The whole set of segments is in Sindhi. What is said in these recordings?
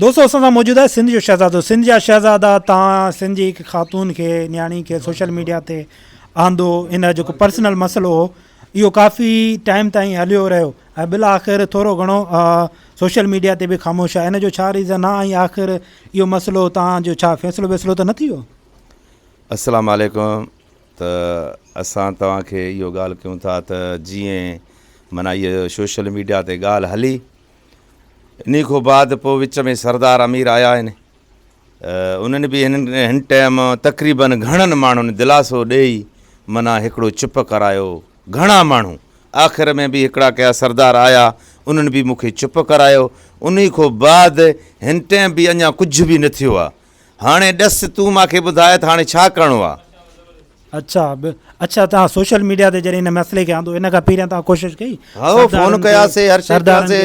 دوستو اسان سان موجود آهي سنڌ جو شهزادو سنڌ جا شهزادا تان سنڌ جي هڪ خاتون کي نياڻي کي سوشل ميڊيا تي آندو ان جو جيڪو پرسنل مسئلو هو اهو ڪافي ٽائيم تائين هليو رهيو ۽ بل آخر ٿورو گهڻو سوشل ميڊيا تي به خاموش آهي ان جو ڇا ريزن آهي ۽ آخر اهو مسئلو تان جو ڇا فيصلو ويصلو ته نه ٿي ويو السلام عليڪم ته اسان توهان کي اهو ڳالهه ڪيون ٿا ته جيئن معنی سوشل ميڊيا تي ڳالهه هلي انهي کان بعد پوء وچ ۾ سردار امير آيا آهن. انهن به هن ٽيم تقريبن گهڻن ماڻهن دلاسو ڏيئي منا هڪڙو چپ ڪرايو. گهڻا ماڻهو. آخر ۾ به هڪڙا ڪيا سردار آيا انهن به مون کي چپ ڪرايو. انهي کان بعد هن ٽيم به اڃا ڪجهه به نه ٿيو آهي. هاڻي ڏس تون مان کي ٻڌاء ته هاڻي ڇا ڪرڻو آ؟ اڇا اڇا توهان سوشل ميڊيا تي جڏهن هن مسئلي کي آندو ان کان پهريان توهان ڪوشش ڪئي هائو فون ڪياسي هر شي ڪياسي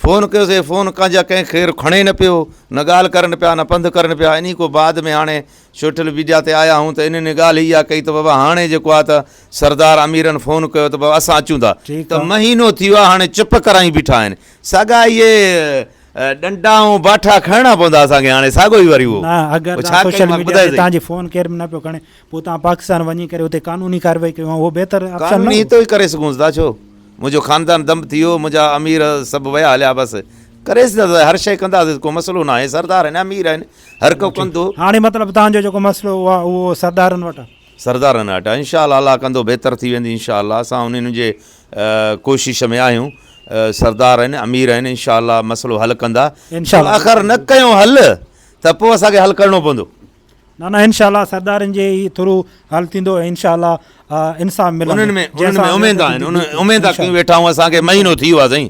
فون ڪيوسي فون ڪان جا ڪنهن خير کڻي نه پيو نه ڳالهه ڪرن پيا نه پنڌ ڪرن پيا اني کو بعد ۾ هاڻي سوشل ميڊيا تي آيا آهون ته انهن ان ڳالهه اها ڪئي ته بابا هاڻي جيڪو آ ته سردار اميرن فون ڪيو ته بابا اسان اچون ٿا ته مهينو ٿي ويو آ هاڻي چپ ڪرائي بيٺا آهن ساڳا اهي ڏنڊا ۽ باٺا کڻڻا پوندا اسان کي هاڻي ساڳو ئي وري اهو نه اگر تان سوشل ميڊيا تي تان جي فون ڪير به نه پيو کڻي پو تان پاڪستان وڃي ڪري اتي قانوني ڪارروائي ڪيو اهو بهتر آپشن نه هي تو ئي ڪري سگهون ٿا ڇو منهنجو خاندان دم ٿي ويو منهنجا امير سڀ ويا هليا بس ڪري سگهون ٿا هر شيء ڪندا سي ڪو مسئلو نه آهي سردار آهن امير آهن هر ڪو ڪندو هاڻي مطلب تان جو جيڪو مسئلو اهو سردارن وٽ سردارن اٽا انشاء الله الله ڪندو بهتر ٿي ويندي انشاء الله اسان انهن جي ڪوشش ۾ آهيون سردار آهن امير آهن انشاء الله مسئلو حل ڪندا آخر نه ڪيو حل ته پوء اسان کي حل ڪرڻو پوندو نه نه انشاء الله سردارن جي هي ٿرو حل ٿيندو انشاء الله انصاف ملندو انهن ۾ اميد آهن اميد ڪيون ويٺا آهيون اسان کي مهينو ٿي ويو آهي سائين